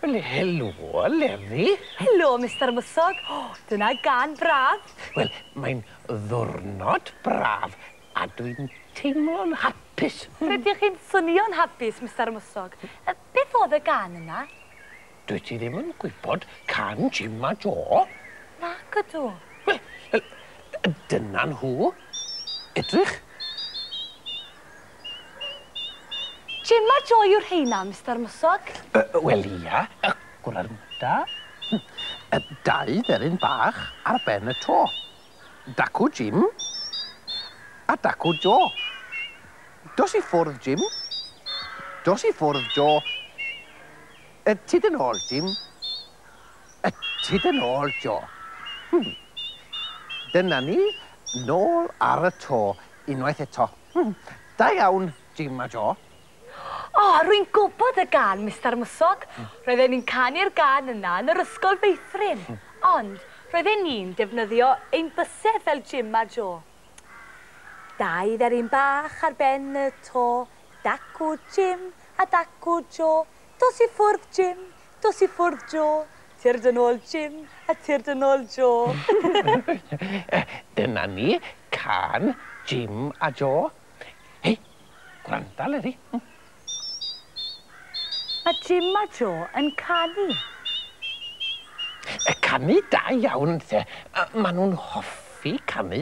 Wel, helo, Leri. Helo, Mister Mwsog. O, dyna gân braf. Wel, mae'n ddwrnod braf a dwi'n teimlo'n hapus. Rydych chi'n swnio'n hapus, Mister Mwsog. Beth oedd y gân yna? Dwyt ti ddim yn gwybod can Jim a Jo? Nac ydw. Wel, dyna nhw. Edrych. Gemma Joy yw rheina, Mister Mwswg? Yy, wel, ia, y gwranda. Hm, yy, dau dderyn bach ar ben y to. Dacw Jim a Dacw Jo. Dos i ffwrdd, Jim. Dos i ffwrdd, Jo. Y tu dy nôl, Jim. Y tu dy nôl, Jo. Hm. Dyna ni, nôl ar y to, unwaith eto. Hm, da iawn, Jim a Jo. O, rwy'n gwybod y gân, Mister Mwsog. Roedden ni'n canu'r gân yna yn yr ysgol feithrin. Ond, roedden ni'n defnyddio ein bysedd fel Jim a Jo. Dau dderyn bach ar ben y to, Dacw Jim a dacw Jo. Dos i ffwrdd, Jim, Dos i ffwrdd Jo, tyrd yn ôl Jim a tyrd yn ôl Jo. Dyna ni, cân Jim a Jo. Hei, gwranda Leri. Mae Jim a Jo yn canu. Canu da iawn 'nte. Maen nhw'n hoffi canu.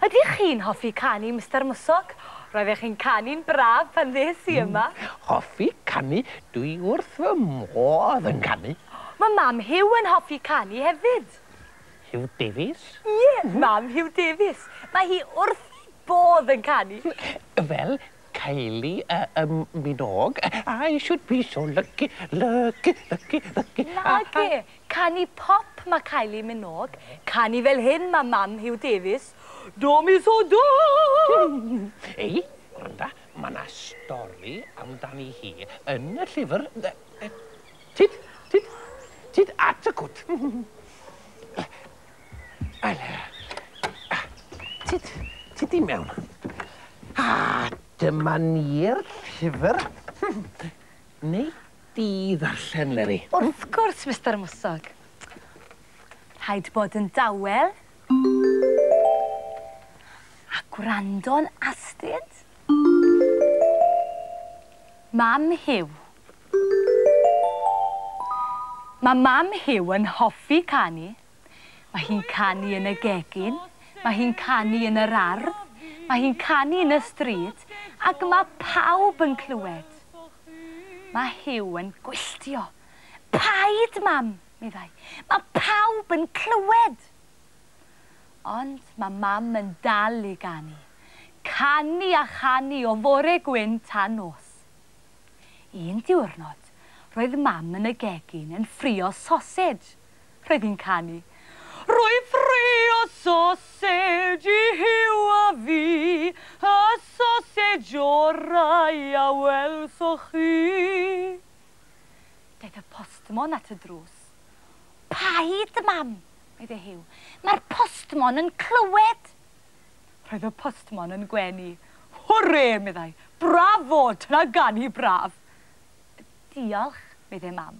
Ydych chi'n hoffi canu, Mister Mwsog? Roeddech chi'n canu'n braf pan ddes i yma. Hoffi canu, dwi wrth fy modd yn canu. Mae mam Huw yn hoffi canu hefyd. Huw Davies? Ie, mam Huw Davies. Mae hi wrth ei bodd yn canu. Fel Kylie Minogue, I should be so lucky, lucky, lucky, lucky. Nage, Canu pop ma Kylie Minogue canu fel hyn ma mam Huw Davies Do mi so do! Ei, gwranda, ma na stori amdani hi yn y llyfr yy tyd, tyd, tyd at y cwt. Tyd, tyd i mewn. A dyma ni'r llyfr. Neu di ddarllen, Meri? Wrth gwrs, Mister Mwsog. Rhaid bod yn dawel a gwrando'n astud. Mam Huw. Mae Mam Huw yn hoffi canu. Mae hi'n canu yn y gegin, mae hi'n canu yn yr ardd, mae hi'n canu yn y stryd, ac mae pawb yn clywed. Mae Huw yn gwylltio. Paid, Mam! meddai. Mae pawb yn clywed! Ond mae Mam yn dal i ganu. Canu a chanu o fore gwyn tan nos. Un diwrnod, roedd Mam yn y gegin yn ffrio sosej. Roedd hi'n canu. Rwy'n ffrio sosej i Huw a fi, y sosej orau a welsoch chi. Daeth y postmon at y drws. Paid, Mam! meddai Huw. Mae'r postmon yn clywed! Roedd y postmon yn gwenu. Hwrê! meddai. Brafo! Dyna ganu braf! Diolch! meddai Mam.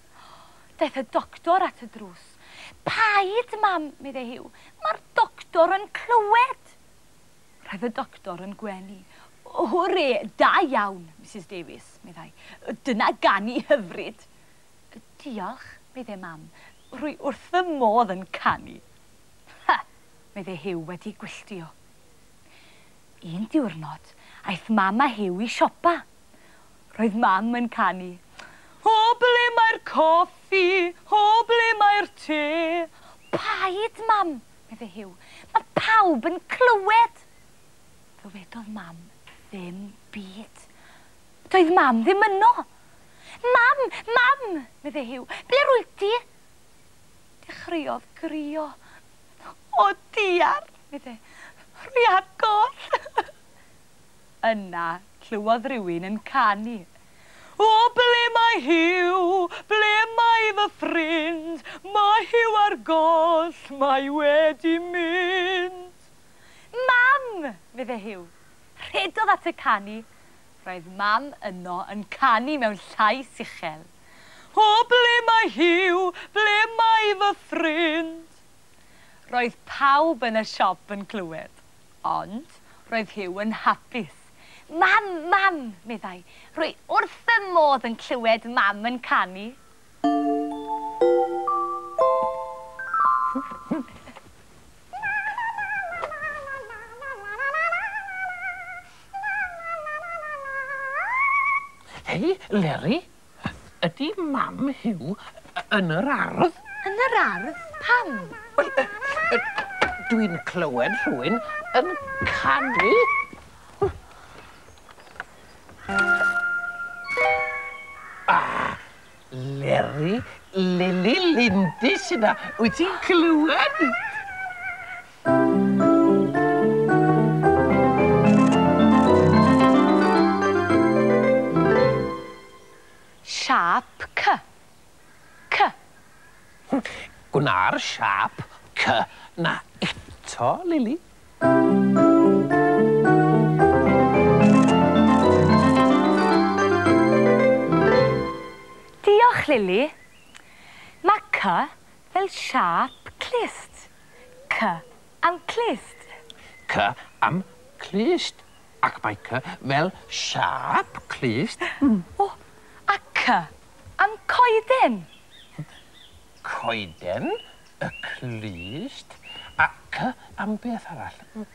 Daeth y doctor at y drws. Paid, Mam, meddai Huw. Mae'r doctor yn clywed! Roedd y doctor yn gwenu. Hwre, da iawn, Misus Davies, meddai. Dyna ganu hyfryd! Diolch, meddai Mam. Rwy wrth fy modd yn canu. Ha! meddai Huw wedi gwylltio. Un diwrnod, aeth Mam a Huw i siopa. Roedd Mam yn canu, O ble mae'r coffi, o ble mae'r te? Paid, Mam! meddai Huw. Mae pawb yn clywed! Ddywedodd Mam ddim byd. Doedd Mam ddim yno! Mam! Mam! meddai Huw. Ble rwyt ti? Dechreuodd grio. O diar! meddai. Rwy ar goll! Yna, clywodd rywun yn canu, O, ble mae Huw? Ble mae fy ffrind? Mae Huw ar goll, mae wedi mynd. Mam! fydde Huw. Rhedodd at y canu. Roedd Mam yno yn canu mewn llais uchel, O, ble mae Huw? Ble mae fy ffrind? Roedd pawb yn y siop yn clywed. Ond roedd Huw yn hapus. Mam! Mam! meddai. Rwy wrth fy modd yn clywed Mam yn canu. Hei, Leri! Ydy mam Huw yn yr ardd? Yn yr ardd? Pam? Wel, dwi'n clywed rhywun yn canu. Ah! Leri, Lili, Lindy sy 'na. Wyt ti'n clywed? Siâp C. C. Gwna'r siâp C 'na eto, Lili. Diolch, Lili. Mae C fel siâp clust. C am clust. C am clust. Ac mae C fel siâp clust. O! A C am coeden? Coeden, y clust. A C am beth arall?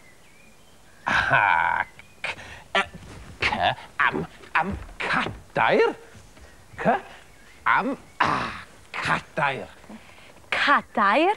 Aha! C C am, am cadair. C am, ah, cadair. Cadair.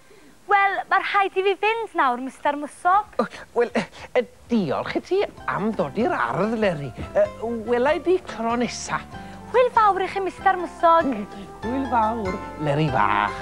Wel, mae rhaid i fi fynd nawr, Mister Mwsog. O, wel, diolch i ti am ddod i'r ardd, Leri. Wela i di tro nesa. Hwyl fawr i chi, Mister Mwsog. Hwyl fawr, Leri fach.